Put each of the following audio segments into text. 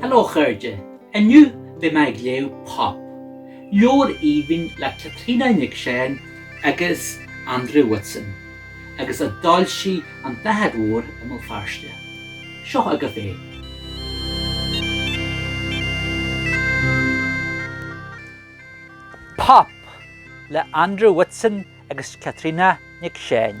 Hello a chairde, inniu beidh mé ag léamh Pop, leabhar aoibhinn le Caitríona Nic Seáin agus Andrew Whitson, agus a d'fhoilsigh An tSnáthaid Mhór i mBéal Feirste. Seo agaibh é. Pop! le Andrew Whitson agus Caitríona Nic Seáin.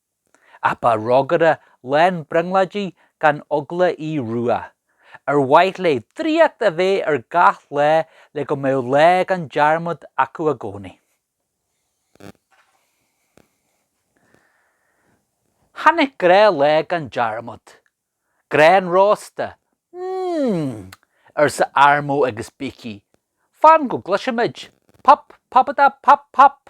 Ach ba rógaire lán brionglóidí gan eagla í Rua, ar mhaith léi draíocht a bheith ar gach lá le go mbeadh lá gan dearmad acu i gcónaí. Tháinig grá lá gan dearmad. Grán rósta. Mmm! arsa Armó agus Beaky. Fan go gcloisimid! Pop, pop-a-da-pop-pop!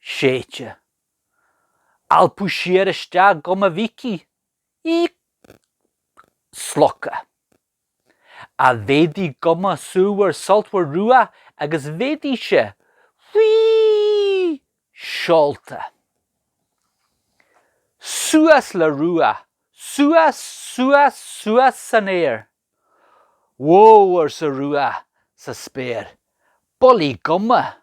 séidte. alpadh siar isteach guma Bheaky, í slogtha. Ach mhéadaigh guma súmhar sultmhar Rua agus mhéadaigh sé faoi sheolta. Suas le Rua, suas, suas, suas san aer. Whoa arsa Rua sa spéir, bulaí guma.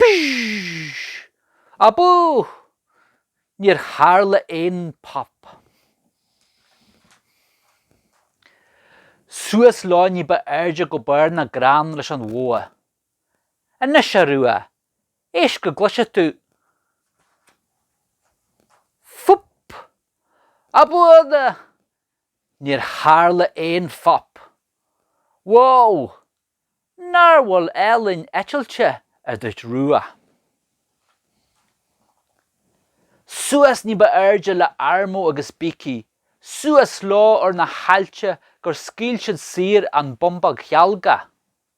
Psh! Abú! Níor tharla aon phop. Suas leo ní ba airde go barr na gcrann leis an bhogha. Anois, a Rua, éist go gcloise tú. Fup! Abú! Níor tharla aon phop. Wow! Nár bhfuil ealaín eitilte a dúirt Rua? Suas ní ba airde le Armo agus Beaky, suas leo ar na haillte gur scaoil siad saor an bumbóg chealgach.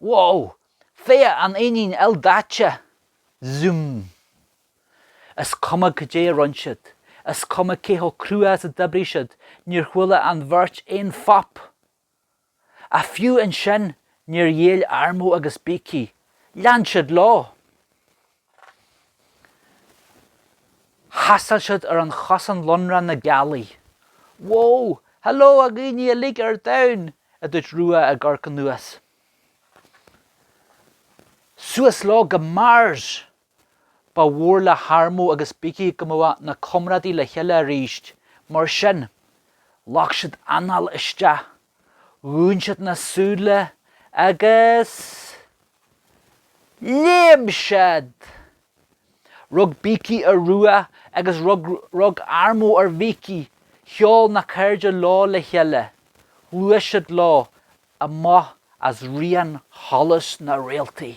Wow! Féach an éinín ildaite! Zoom. Is cuma cad é a rinne siad, is cuma cé chomh crua is a d'oibrigh siad, níor chuala an bheirt aon phop! Ach fiú ansin, níor ghéill Armo agus Beaky. Lean siad leo! Thaistil siad ar an chosán lonrach na gealaí. Wó! Hello, a dhaoine uilig ar domhan! a dúirt Rua ag amharc anuas. Suas leo go Mars! Ba mhór le hArmo agus Beaky go mbeadh na comrádaí le chéile arís, mar sin, ghlac siad anáil isteach Dhún siad na súile agus léim siad! Rug Beaky ar Rua agus rug Armo ar Bheaky, sheol na cairde leo le chéile, ghluais siad leo amach as rian sholas na réaltaí.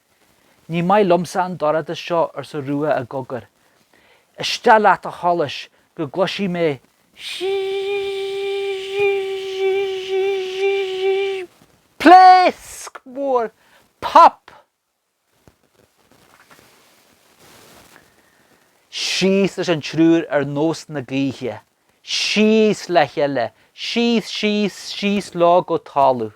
Ní maith liomsa an dorchadas seo, arsa Rua i gcogar. Isteach leat, a Sholais, go gcloisfidh mé pléasc mhór! Pop! Síos leis an triúr ar nós na gaoithe. Síos le chéile. Síos, síos, síos leo go talamh.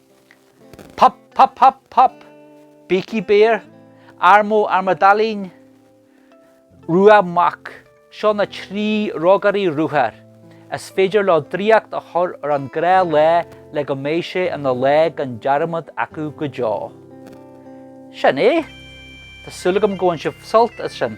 Pop, pop, pop, pop! Beaky Bear, Armo Armadailín, Rua Mac, seo na trí rógairí ruathair is féidir leo draíocht a chur ar an ngnáthlá le go mbeidh sé ina lá gan dearmad acu go deo. Sin é. Tá súil agam go bhain sibh sult as sin.